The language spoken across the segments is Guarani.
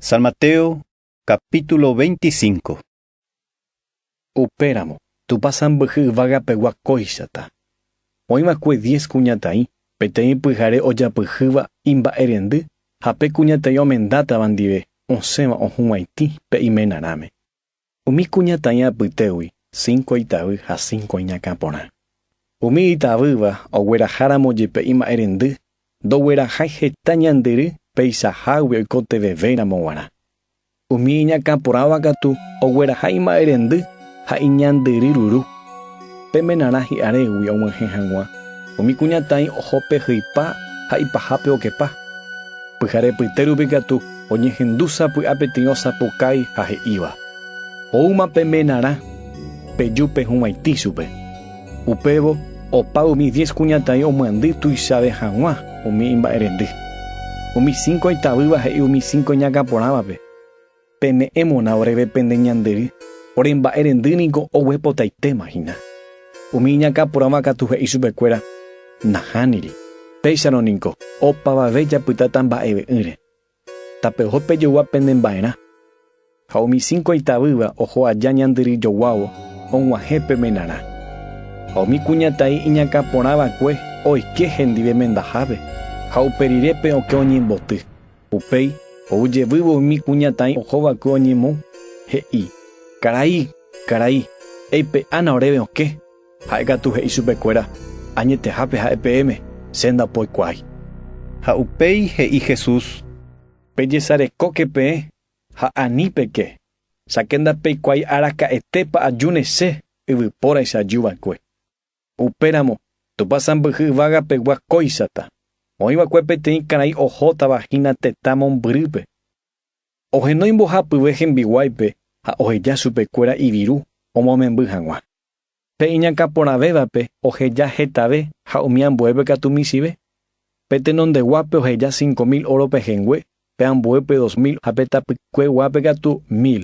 San Mateo, capítulo 25. Upéramo, Tupã sãmbyhy yvagapegua kóichata. Oĩ va'ekue diez kuñataĩ, peteĩ pyhare ojapyhýva imba'erendy ha pe kuñataĩ omendátava ndive osẽva ohũvaitĩ pe iména rãme. Umi kuña tãi apytégui, cinco itavy ha cinco iñakã porã. Umi itavýva ogueraháramo jepe ima'ẽrendy, ndoguerahái heta ñandyry peichahágui oikotevevéramo g̃uarã. Umi iñakã porãva katu ogueraha ima'ẽrendy ha iñandyry ruru. Pe menarã hi'arégui og̃uahẽ hag̃ua, umi kuñataĩ oho pe hypa ha ipahápe okepa. Pyhare pyte rupi katu oñehendu sapy'a peteĩ osapukái ha he'íva, Oúma pe menarã, peju pe huvaitĩ chupe. Upévo opa umi diez kuñataĩ omyandy tuichave hag̃ua umi imba'erendy. Umi cinco itavýva he'i umi cinco iñakãporãvape, Peme'ẽ mona oréve pende ñande ry, ore mba'e rendy niko oguepotaitéma hína. Umi iñakã porãva katu he'i chupe kuéra, Nahániri, péicharõ niko opavave japytáta mba'eve'ỹre. Tape oho pe jogua pende mba'erã. Ha umi cinco itavýva oho aja ñande ry joguávo og̃uahẽ pe menarã. Ha umi kuñataĩ iñakã porãvakue oike hendive mendahápe ha upe rire pe okẽ oñemboty. Upéi ou jevývo umi kuñataĩ ohova'ekue oñemou, he'i, Karai, karai, eipe'ána oréve okẽ. Ha'e katu he'i chupekuéra, Añetehápe ha'e peẽme, che ndapoikuaái. Ha upéi he'i Jesús, Pejesarekóke peẽ ha ani peke, cháke ndapeikuaái araka'etépa ajúne Che yvypóraicha ajúva'ekue. Upéramo, Tupã sãmbyhy yvága pegua kóichata. Oĩ va'ekue peteĩ karai ohótava hína tetã mombyrýpe. Ohenói mbohapyve hembiguáipe ha oheja chupe kuéra iviru omomemby haguã. Pe iñakã porãvévape oheja hetave ha umi ambuépe katu michĩve. Pe tenondeguápe oheja cinco mil óro pehẽngue, pe ambuépe dos mil ha pe tapykue guápe katu mil.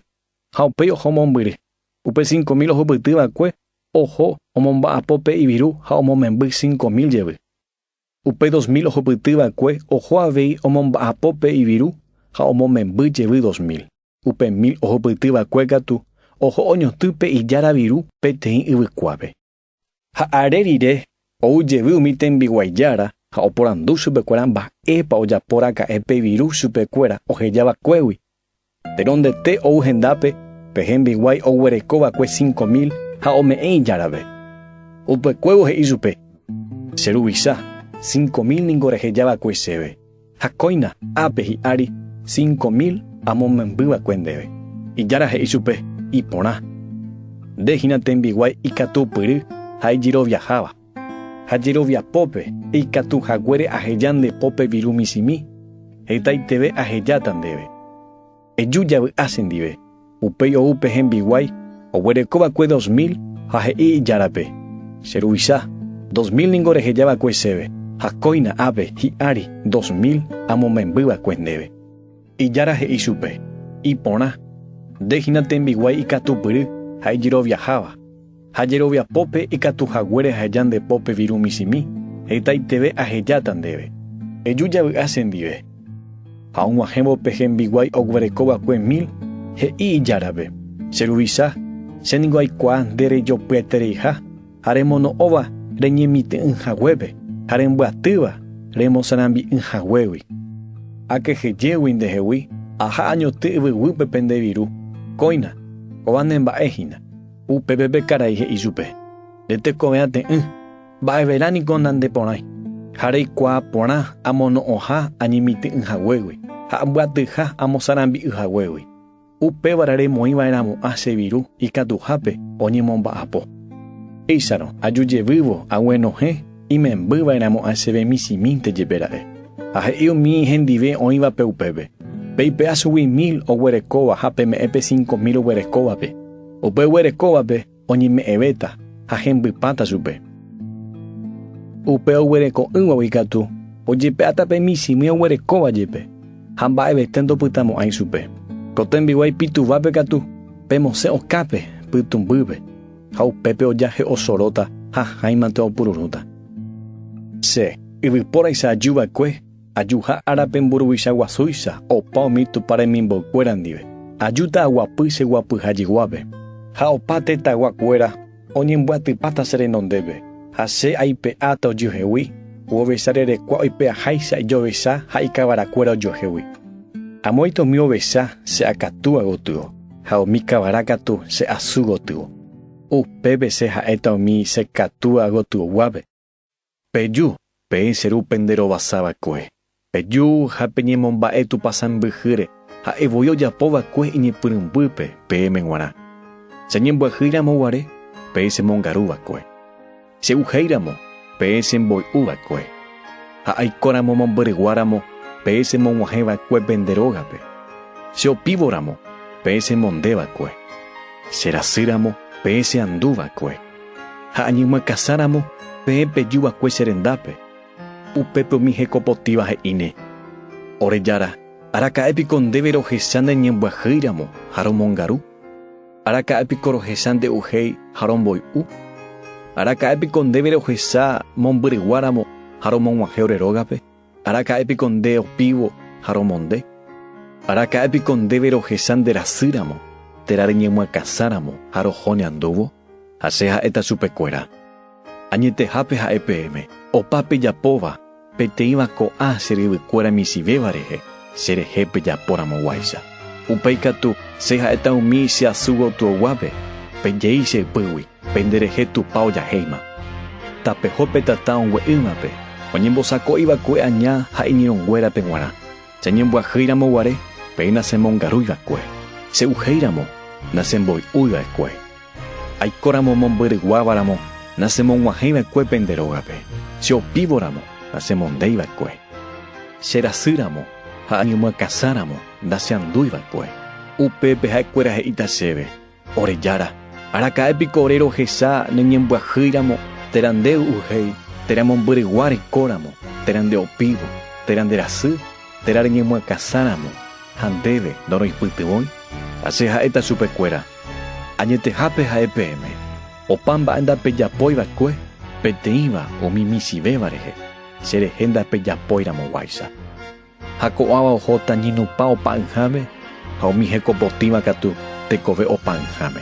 Ha upéi oho mombyry. Upe cinco mil ohupyty va'ekue Oho omomba'apo pe yvyru ha omomemby cinco mil jevy. Upe dos mil ohupyty va'ekue oho avei omomba'apo pe yvyru ha omomemby jevy dos mil. Upe mil ohupyty va'ekue katu oho oñotỹ pe ijára viru peteĩ yvykuápe. Ha are rire ou jevy umi tembiguái jára ha oporandu chupekuéra mba'épa ojapo raka'e pe yvyru chupekuéra oheja vakuégui Perondete ou hendápe pe hembiguái oguereko va'ekue cinco mil ha ome'ẽ ijárave. Upykuévo he'i chupe, Che ruvicha, cinco mil ningo reheja va'ekue chéve, ha kóina ápe hi'ári cinco mil amomymby va'ekue ndéve. Ijára he'i chupe, Iporã. Nde hína tembiguái ikatupyry ha ijeroviaháva. Ha jerovia pópe, ikatu haguére aheja nde pópe viru michĩmi, hetaiteve ahejáta ndéve. Eju javy'a chendive. Upéi ou pe hembiguái oguereko va'ekue dos mil ha he'i ijárape, Che ruvicha, dos mil ningo reheja va'ekue chéve, ha kóina ápe hi'ári dos mil amomemby va'ekue ndéve. Ijára he'i chupe, Iporã, nde hína tembiguái ikatupyry ha ijeroviaháva. Ha jerovia pópe ikatu haguére aheja nde pópe viru michĩmi, hetaiteve ahejáta ndéve. Eju javy'a chendive. Ha og̃uahẽvo pe hembiguái oguereko va'ekue mil, he'i ijárape, Che ruvicha, che ningo aikuaa nde rejopyatereiha ha remono'õva reñemitỹ'ỹ haguépe ha rembyatýva remosarambi'ỹ haguégui. Akehejégui ndehegui, aha añoty yvyguýpe pende viru, kóina, kóva ne mba'e hína. Upépe pe karai he'i chupe, Nde tekove ate'ỹ, mba'everã niko nande porãi, ha reikuaa porã amono'õha añemitỹ'ỹ haguégui ha ambyatyha amosarambi'y haguégui. Upévare remoĩ va'erãmo'ã che viru ikatuhápe oñemomba'apo. Péicharõ, aju jevývo aguenohẽ imemby va'erãmo'ã chéve michĩmínte jepe ra'e. Ha he'i umi hendive oĩvape upépe, Peipe'a chugui mil oguerekóva ha peme'ẽ pe cinco mil oguerekóvape. Upe oguerekóvape oñeme'ẽvéta ha hembypáta chupe. Upe oguereko'ỹvagui ikatu ojepe'áta pe michĩmi oguerekóva jepe, ha mba'evete ndopytamo'ãi chupe. Ko tembiguái pituvápe katu, pemosẽ okápe pytũmbýpe, ha upépe ojahe'osoróta ha háimante opururũta. Che, yvypóraicha ajuva'ekue Ajuha ára pe mburuvicha guasúicha opa umi Tupã remimboykuéra ndive, ajúta aguapy che guapyha jeguápe. Ha opa tetãgua kuéra oñembyatypáta che renondépe, ha che aipe'áta ojuehegui, guovecha rerekua oipe'aháicha ijovecha ha ikavara kuéra ojuehegui. Amoite umi ovecha che akatúa gotyo, ha umi kavara katu che asy gotyo. Upépe che ha'éta umi che katúa gotyo guápe. Peju, peẽ che Ru pende rovasa va'ekue. Peju ha peñemomba'e Tupã sãmbyhýre, ha'e voi ojapo va'ekue iñepyrũmbýpe peẽme g̃uarã. Che ñembyahýi ramo guare, peẽ che mongaru va'ekue. Che uhéi ramo, peẽ che mboy'u va'ekue. Ha aiko ramo mombyrygua ramo, peẽ che mog̃uahẽ va'ekue pende rógape. Che opívo ramo, peẽ che monde va'ekue. Che rasy ramo, peẽ che andu va'ekue. Ha añymakasáramo peẽ peju va'ekue che rendápe, upépe umi hekopotíva he'íne, Ore Jára, araka'e piko ndéve rohecha nde ñembyahýiramo ha romongaru? Araka'e piko rohecha nde uhéi ha romboy'u? Araka'e piko ndéve rohecha mombyryguáramo ha romog̃uahẽ ore rógape? Araka'e piko nde opívo ha romonde? Araka'e piko ndéve rohecha nde rasy ramo, térã reñemyakãsa ramo ha roho ne andúvo? Ha che ha'éta chupe kuéra, Añetehápe ha'e peẽme, opa pejapóva, peteĩva ko'ã che ryvy kuéra michĩvéva rehe, che rehe pejapo ramo guáicha. Upéi katu, che ha'éta umi che asy gotyo guápe, Pejei che ypýgui. Pende rehe Tupã ojahéima. Tapeho pe tata ongue'ỹvape, oñembosako'i va'ekue aña ha iñirõnguérape guarã. Jañembyahy ramo guare, peẽ nasemongarúi va'ekue. Se'uhéi ramo, nasemboy'úi va'ekue. Aiko ramo mombyryguáva ramo, nasemog̃uahẽi va'ekue pende rógape. Che opívo ramo, nasemondéi va'ekue. Che rasy ramo ha añemyakãsa ramo, naseandúi va'ekue. Upépe ha'ekuéra he'íta chéve, Ore Jára, araka'e piko ore rohecha ne ñembyahýiramo térã nde u'uhéi, térã mombyregua reikóramo, térã nde opívo, térã nde rasy, térã reñemyakãsáramo, ha ndéve ndoroipytyvõi? Ha che ha'éta chupe kuéra, Añetehápe ha'e peẽme, opa mba'e ndapejapói va'ekue, peteĩva umi michĩvéva rehe, che rehe ndapejapóiramo guáicha. Ha ko'ãva ohóta ñinupã opa'ỹháme, ha umi hekopotĩva katu tekove opa'ỹháme.